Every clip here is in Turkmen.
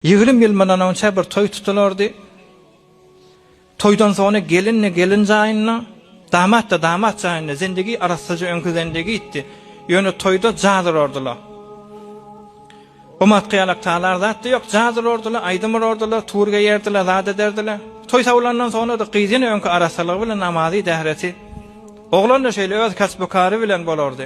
Ýigrimi ýyl mundan onça bir toý tutulardy. Toýdan soňra gelin-de gelin jaýynda, damat-da damat jaýynda zindigi arassaja öňki zindigitdi. Ýöne toýda jaz urardylar. Gumat-gyýalak talar zat-da ýok, jaz urardylar, aýdym urardylar, tur geýerdiler, zat ederdiler. Toý sowlandan soňra-da gyz ýene öňki arassalygy bilen namazy-dähreti, oglan-da şeýle öz kasby-kary bilen bolardy.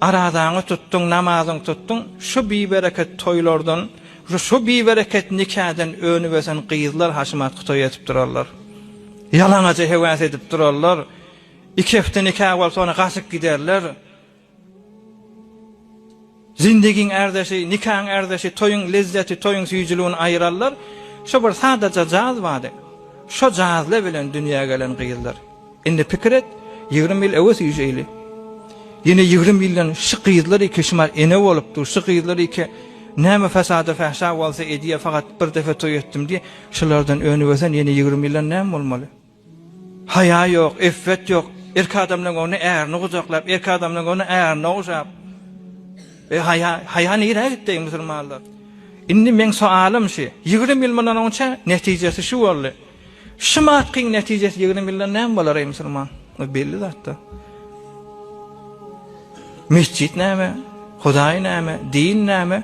Arazaňy tutduň, namazyňy tutduň, şu bibereket toýlardan, şu bibereket nikadan önüp ösen gyzlar haşamatky toý edip durarlar. Ýalaňaja hewas edip durarlar. Iki hepde nika bolup, soňra gaçyp giderler. Zindigiň ärdeşi, nikaň ärdeşi, toýuň lezzeti, toýuň süýjüligini aýyrarlar. Şu bir sadaja jaz bady. Şo jazla bilen dünýä gelen gyzlar. Indi pikir et, ýigrimi ýyl öwez üýşeýli. Ýene ýigrimi ýyldan şu gyzlar iki şumal ene bolup dur, şu gyzlar iki näme fasada fähşa bolsa edýär, fakat bir depe toý etdim diýip, şulardan önübersen ýene ýigrimi ýyldan näme bolmaly? Haýa ýok, iffet ýok, erkek adamlaryň öňünde ärini gujaklap, erkek adamlaryň öňünde ärine ogşap. Eý haýa, haýa nirä gitdi eý musulmanlar? Indi meň soalym şu, ýigrimi ýyl mundan onça netijesi şu boldy. Şu matkyň netijesi ýigrim ýyldan näme bolar eý musulman? Bu belli zatda. Mesjit näme? Hudaý näme? Din näme?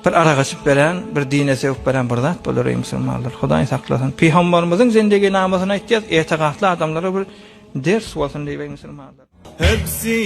Bir ara gaçyp beren, bir dine söwüp beren bir zat bolar eý musulmanlar. Hudaý saklasyn. Pygambarymyzyň zindegi namysyny aýtýas, etegakly adamlara bir ders bolsun diýip eý musulmanlar.